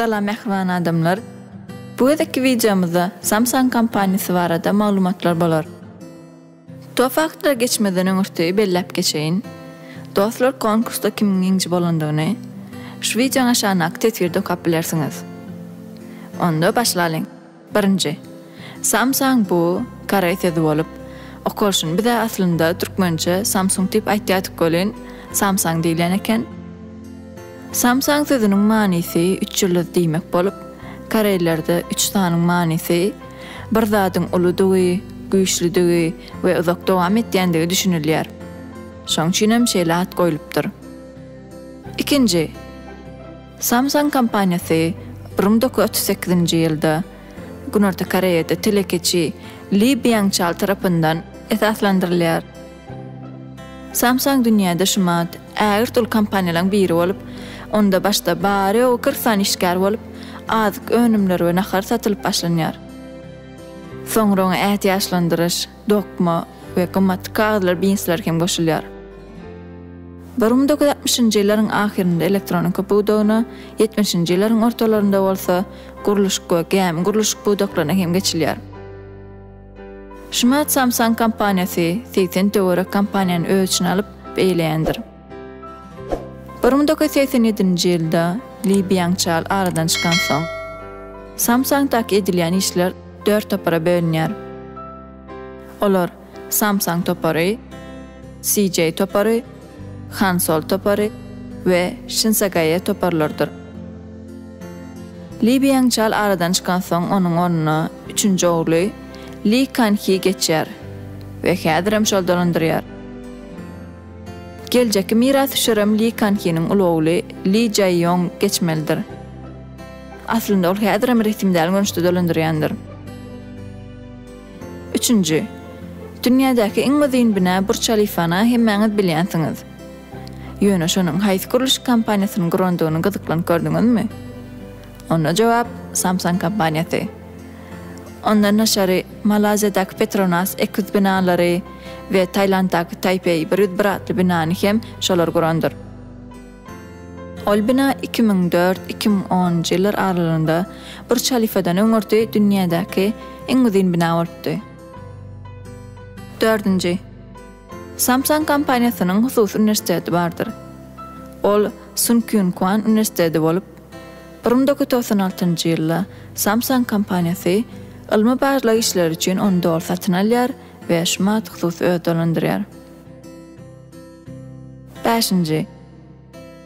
Salam mähriban adamlar! Bu gezekki wideomyzda Samsung kompaniýasy barada maglumatlar bolar. Top faktlary geçmezden öňürti belläp geçeýin. Dostlar konkursda kimiň ýeňiji bolandygyny şu wideoň aşagyndaky teswirde okap bilersiňiz. Onda başlalyň! Birinji. Samsang bu, koreý sözi bolup, okolşyn. Biz-ä aslynda türkmençe Samsung diýip aýtýardyk welin, Samsang diýilýän eken. Samsang sözüniň manysy üç ýyldyz diýmek bolup, koreýlerde üç sanyň manysy bir zadyň uludygy, güýçlüdigi we uzak dowam etýändigi düşünilýär. Şoň üçin hem şeýle at goýlupdyr. Ikinji. Samsung kompaniýasy brum doki otuz sekizinji ýylda Günorta Koreýada telekeçi Li Býangçal tarapyndan esaslandyrylýar. Samsung dünýäde şumat ägirt uly kompaniýalaryň biri bolup, onda başda bary-ýogy kyrk sany işgär bolup, azyk önümleri we nahar satylyp başlanýar. Soňra oňa ätiýaçlandyryş, dokma we gymmatly kagyzlar, binsler hem goşulýar. Bir müň doküz ýüz altmyşynjy ýyllaryň ahyrynda elektronika pudagyna, ýetmişinji ýyllaryň ortalarynda bolsa gurluşyk we gämi gurluşyk pudaklaryna hem geçilýär. Shima Samsung kompaniýasy segsen töwerek kompaniýany öz içine alyp, eýeleýändir. Bir müň dokuz ýüz segsen ýedinji ýylda Li Býangçal aradan çykansoň, Samsung-daky edilýän işler dört topara bölünýär. Olar Samsung topary, CJ topary, Hansol topary we Şinsagaýa toparlarydyr. Li Býangçal aradan çykansoň, onuň ornuna üçünji ogly Li Kan-hi geçýär we häzirem şol dolandyrýar. Geljekki mirasdüşerem Li Kan-hiniň uly ogly Li Jaýýong geçmelidir. Aslynda ol häzirem resmi däl görnüşde dolandyrýandyr. Üçünji. Dünýädäki iň uzyn bina Burç Halifany hemmäňiz bilýänsiňiz. Ýöne şonuň haýsy gurluşyk kompaniýasynyň gurandygyny gyzyklanyp gördüňizmi? Onda jogap, Samsung kompaniýasy. Ondan daşary, Malaýziýadaky Petronas eki ýüz binalary we Tailanddaky Taipei bir ýüz bir atly binany hem şolar gurandyr. Ol bina iki müň dört-iki müň onunjy ýyllar aralygynda Burç Halifadan öňürti dünýädäki iň uzyn bina bolupdy. Dördünji. Samsung kompaniýasynyň hususy uniwersiteti bardyr. Ol Sun Kyun Kwan uniwersiteti bolup, Bir müň dokuz ýüz togsan altynjy ýylda Samsung kompaniýasy ylmy-barlag işleri üçin ony doly satyn alýar we Şmat hususy öz dolandyrýar. Bäşinji.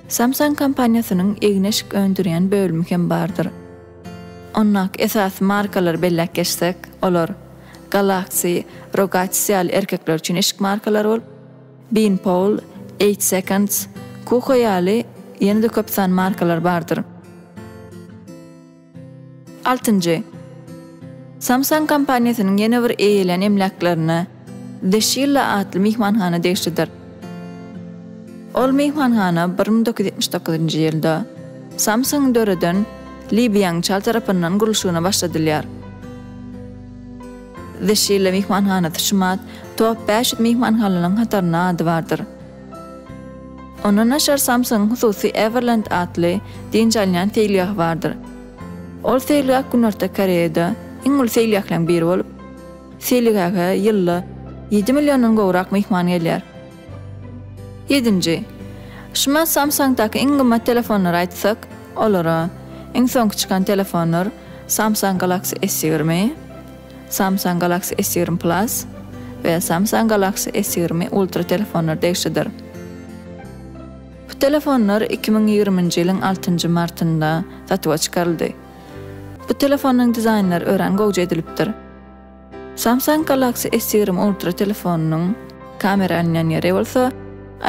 Samsung kompaniýasynyň egin-eşik öndürýän bölümi hem bardyr. Ondaky esasy markalary belläp geçsek, olar Galaxy, Rogattis ýaly erkekler üçin eşik markalary bolup, Bean Paul, Eight Seconds, Kuko ýaly ýene-de köp san markalar bardyr. Altynjy. Samsung kompaniýasynyň ýene bir eýelän emläklerine The Shilla atly myhmanhana degişlidir. Ol myhmanhana bir müň dokuz ýüz ýetmiş dokuzynjy ýylda Samsung-yň döreden Li Býangçal tarapyndan gurluşygyna başladylýar. The Şile myhmanhanasy Şumat Top bäş ýüz myhmanhanalynyň hatarynda ady bardyr. Ondan daşary Samsung-yň hususy Everland atly dynç alynýan seýilgahy bardyr. Ol seýilgäh Günorta Koreýada iň uly seýilgähleriň biri bolup, seýilgähe ýylda ýedi milliondan gowrak myhman gelýär. Ýedinji. Şumat Samsung-daky iň gymmat telefonlary aýtsak, olara, iň soňky çykan telefonlar, Samsung Galaxy S ýigrimi, Samsung Galaxy S ýigrimi Plus we Samsung Galaxy S ýigrimi Ultra telefonlary degişlidir. Bu telefonlar iki müň ýigriminji ýylyň altynjy martynda satuwa çykaryldy. Bu telefonyň dizaýnlary örän gowja edilipdir. Samsung Galaxy S ýigrimi Ultra telefonynyň kamera alynýan ýeri bolsa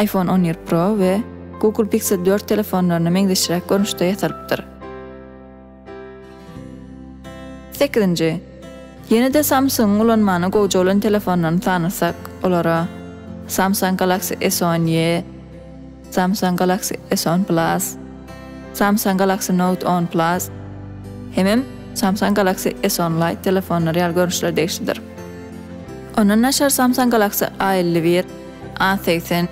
iPhone on bir Pro we Google Pixel dört telefonlaryna meňzeşräk görnüşde ýasalypdyr. Sekizinji. Ýene-de Samsung-yň ulanmana gowja bolan telefonlaryny sanasak, olara Samsung Galaxy S on ýe, Samsung Galaxy S on Plus, Samsung Galaxy Note on Plus hemem Samsung Galaxy S on Lite telefonlary ýaly görnüşler degişlidir. Ondan daşary Samsung Galaxy A elli bir, A segsen,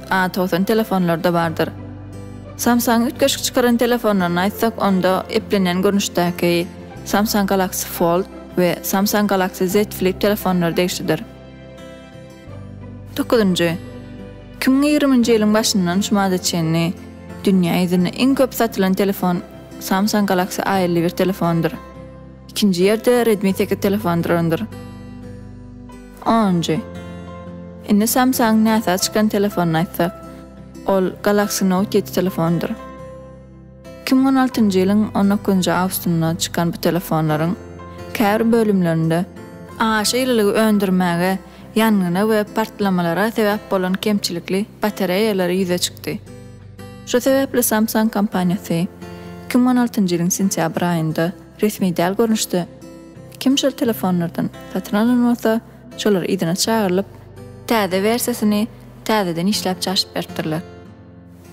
A togsan telefonlary-da bardyr. Samsung üýtgeşik çykaran telefonlaryny aýtsak, onda eplenýän görnüşdäki Samsung Galaxy Fold we Samsung Galaxy Z Flip telefonlary degişlidir. Dokuzynjy. Kimiň ýigriminji ýylyň başyndan şu mada çenli dünýä ýüzünde iň köp satylan telefon Samsung Galaxy A elli bir telefondyr. Ikinji ýerde Redmi sekiz telefon durandyr. Onunjy. Indi Samsung-yň näsag çykan telefonyny aýtsak, ol Galaxy Note ýedi telefondyr. Iki müň on altynjy ýylyň on dokuzynjy awustynda çykan bu telefonlaryň käbir bölümlerinde, Aşa ýylylygy öndürmäge, ýangyna we partlamalara sebäp bolan kemçilikli batareýalary ýüze çykdy. Şu sebäpli Samsung kompaniýasy iki müň on altynjy ýylyň sentýabr aýynda resmi däl görnüşde kim şol telefonlardan satyn alan bolsa, şolar yzyna çagyrylyp, täze wersiýasyny täzeden işläp çaşyp beripdirler.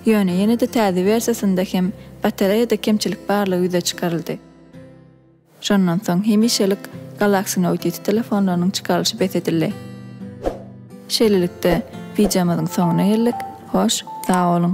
Ýöne ýene-de täze wersiýasynda hem batareýada kemçilik barlygy ýüze çykaryldy. Şondan soň hemişelik Galaxy Note ýedi telefonlarynyň çykarylyşy bes edildi. Şeýlelikde, wideomyzyň soňuna geldik, hoş, sag boluň!